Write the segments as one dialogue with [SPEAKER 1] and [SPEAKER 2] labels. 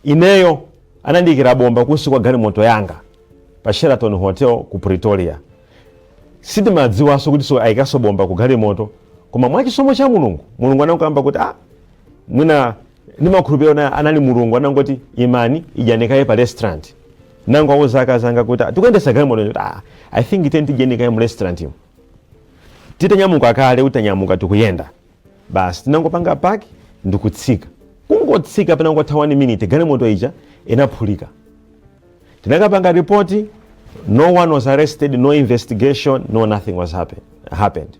[SPEAKER 1] ineyo anandiikira bomba kunsi kwa galimoto yanga pa sheraton hotel ku pretoria sindimadziwanso kuti so ayikanso bomba ku galimoto koma mwachisomo cha mulungu mulungu anakamba kuti ah mwina ndimakhulupirira kuti anali mulungu anangoti imani idyani kaye pa restaurant nangowauza akazi anga kuti "Ah, tikuyendesa galimoto kuti ah, i think tiyeni tidyeni kaye mu restaurant imo titanyamuka kale utanyamuka tikuyenda basi tinangopanga paki ndikutsika kungotsika panangotha 1 minute galimoto ija inaphulika tinakapanga ripoti no one was arrested no investigation no nothing was happen, happened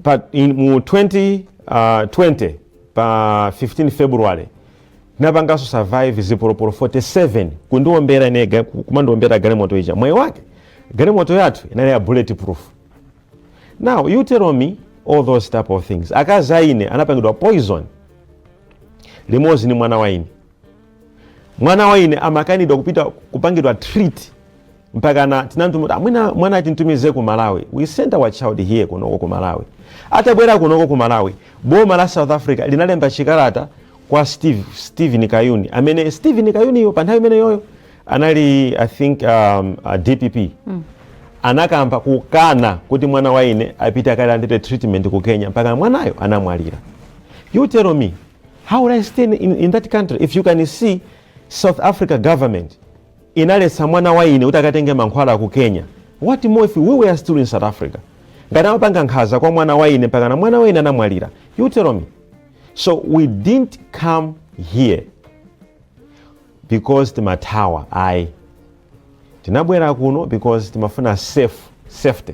[SPEAKER 1] but, in, mu 20, uh, 20 pa 15 february tinapanganso survive zipolopolo 47 kundiwombera ine ga- kumandiombera galimoto ija mwayi wake galimoto yathu inali ya bullet proof now you tell me all those type of things akazi aine anapangidwa poison limodzi ni mwana waine mwana wa ine amakanidwa kupita kupangidwa treat mpakana tinamtuma kuti mwana tintumize ku malawi we sent our child here kunoko ku malawi atabwera kunoko ku malawi boma la south africa linalemba chikalata kwa steve stephen kayuni amene stephen kayuniyo pa nthawi imeneyoyo anali i think um, uh, dpp mm. anakamba kukana kuti mwana wa ine apite akalandire treatment ku kenya mpaka mwanayo anamwalira you tell me How would I stay in, in, in that country? If you can see South Africa government inaletsa mwana wa ine kuti akatenge mankhwala ku Kenya. What more if we were still in South Africa? Ngati amapanga nkhaza kwa mwana wa ine mpakana mwana wa ine anamwalira. You tell me. So we didn't come here because timathawa ayi. Tinabwera kuno because timafuna safe, safety.